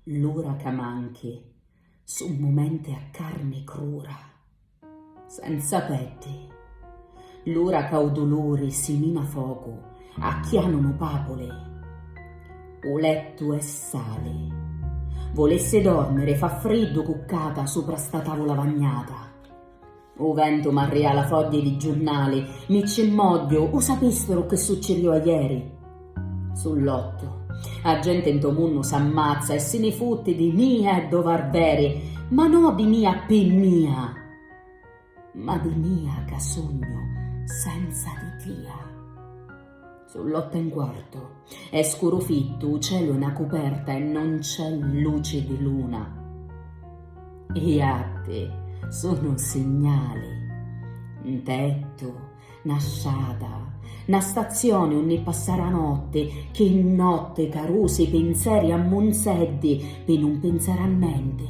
L'ura ca manchi su mumenti a carni crura, senza peddi, l'ura ca u duluri simina focu a chianunu papuli. U lettu è sali, vulissi dormiri fa friddu cuccata supra sta tavula vagnata. U ventu m'arria la fogghie di giurnali, mi cci mmogghiu, u sapisturu chi succiriu ajeri? Su lottu. A genti nto munnu s'ammazza e si ni futti di mia e do Varveri, ma no di mia pi mia, ma di mia ca sugnu senza di tia. Su l'otte e 'n quartu. È scuru fittu, 'u celu è 'na cuperta e non c'è luci di luna. I jatti sunu signali. 'n tettu, 'na strata, 'na stazioni unni passari 'a notti, chi notti carusi pinzeri a munzeddi pi nun pinzari a nenti.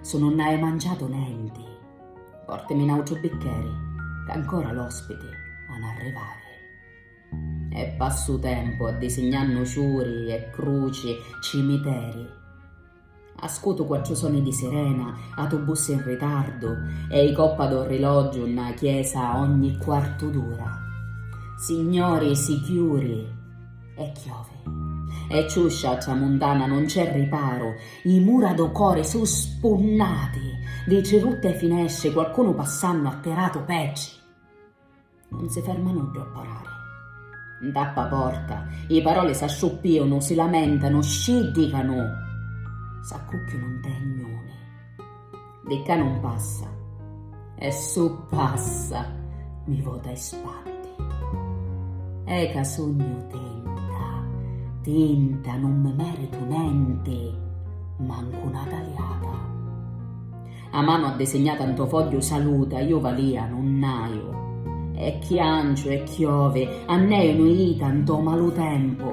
su nun hai manciatu nenti, portimi n'autru biccheri, ch'ancora l'ospiti han arrivari. E passu tempu addisignannu ciuri e cruci, cimiteri. Ascutu quattru soni di sirena, atubussi in ritardu e i coppa d'orrilogiu nna chiesa ogni quartu d'ura. Signori, si chiuri! E chiovi. E ciuscia a tramuntana non c'è riparu, i mura do core su spunnati, vitri rutti e finesci, qualcunu passannu attiratu pecci. Non si ferma nuddu a parari. Ntappa porta, i paroli s'asciuppiunu, si lamentanu, sci dicanu, s'accucchiunu nte i gnuni. Di ccà nun passa, e su passa mi vota 'e spaddi. È ca sugnu tinta, tinta, nun mi meritu nenti, mancu na taliata. 'a manu addisignata 'nto fogghiu saluta, iu valia nunn'aiu, e chianciu e chiovi, ann'è inuita 'nto malu tempu.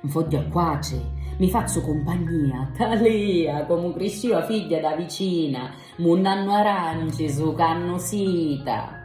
Nfogghiu a quatri, mi fazzu cumpagnia, talia, comu criscìu a figghia dâ vicina, munnannu aranci, sucannu sita.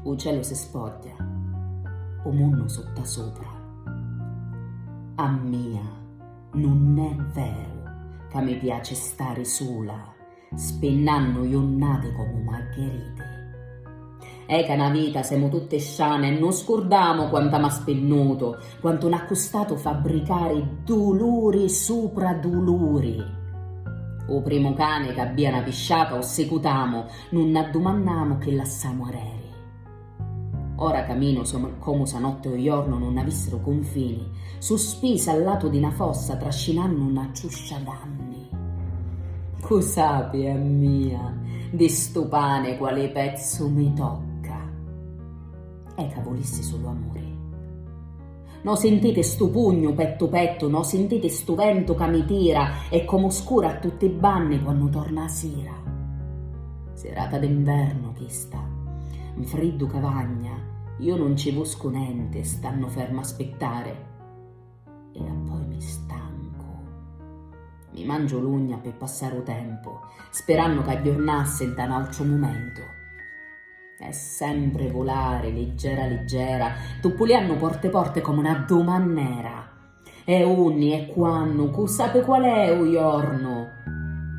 U celu si sfogghia, u munnu suttasupra. A mia nun è veru ca mi piaci stari sula. Spinnannu junnati comu maggheriti. È ca 'na vita semu tutti sciani e nun scurdamu quanta m'ha spinnutu, quantu n'ha custatu fabbricari duluri supra duluri. U primu cani c'abbia 'na pisciata u sicutamu, nun n'addumannamu chi lassamu areri. Ora caminu comu sa notte o jornu nun avissero cunfini, suspisa a latu di na fossa trascinannu na ciuscia d'anni. Cu sapi a mia di stu pani quali pezzu mi tocca? E ca vulissi sulu amuri. No sintiti stu pugnu pettu pettu, no sintiti stu ventu ca mi tira e comu scura a tutti i banni quannu torna a sira. Sirata d'invernu chista. Nfriddu ca vagna, iu nun ci vuscu nenti stannu ferma a spittari. E appoi mi stancu. Mi mangiu l'ugna pi passari u tempu, spirannu ca agghiurnassi nta n'autru mumentu. E sempri vulari, liggera liggera, tuppuliannu porte porte comu na dumannera. E unni e quannu, cu sapi qual è u jornu?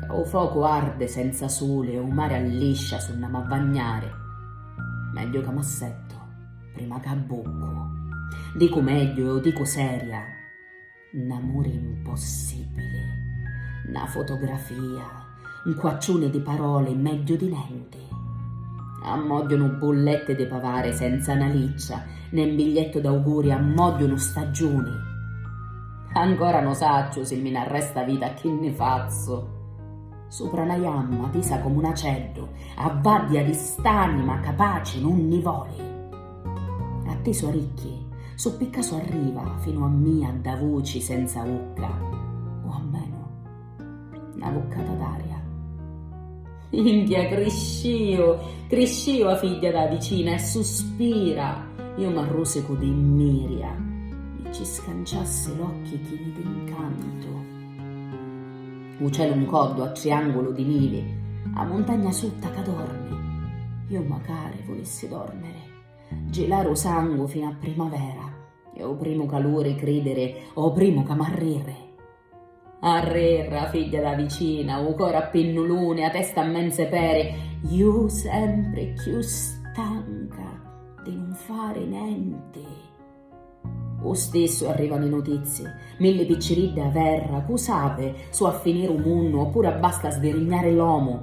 Ca u focu ardi senza suli e u mari alliscia si nn'amu a vagnari. Megghiu ca m'assettu, prima ca abbuccu. Dicu megghiu e u dicu seria. N'amuri 'mpossibili, 'na fotografia, 'nquacciuni di paroli megghiu di nenti. Ammògghiunu bulletti di pavari senza 'na liccia, né 'n bigliettu d'auguri ammògghiunu staggiuni. Ancora no' sacciu si mi n'arresta vita chi nni fazzu. Supra 'na jamma tisa comu n'aceddu, a vàddia di st'anima capaci nun nni voli. A ti so ricchi, su picca so arriva finu a mia dda vuci senza ucca, o ammenu na vuccata d'aria. Minchia, crisciu, crisciu a figghia dâ vicina e suspira, iu m'arrusicu di mmiria, mi ci scanciassi l'occhi chini d'incantu. U celu 'ncoddu a triangulu di nivi, a muntagna sutta ca dormi, iu macari vulissi dormiri, gilari u sangu finu a primavera e u primu caluri cridiri o primu ca m'arriri. Arrirra, figghia da vicina, u cori a pinnuluni, a testa a menze peri, iu sempri cchiù stanca di nun fari nenti. U stissu arrivanu i nutizzi. Milli picciriddi a verra, cu sapi, su a finiri u munnu oppuru abbasta sdirignari l'omu.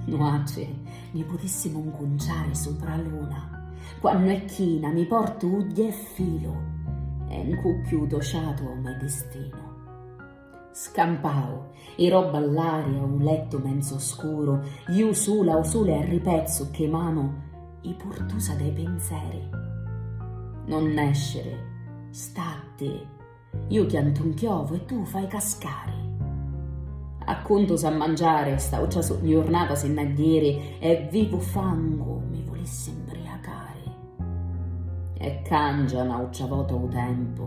Nuatri ni putissimu ncunciari supra a luna. Quannu è china mi portu ugghi e filu e ncucchiu u to ciatu o me distinu. Scampau, i robba all'aria u lettu menzo scuru, iu sula u sule a ripezzu che manu i purtusa dei pinzeri. Non nesciri, statti, iu chiantu nchiovu e tu fai cascari. Accuntu sa mangiari, st'autra jurnata si nn'ha ghiri e vivu fangu mi vulissi mbriacari. E cangia n'autra vota u tempu.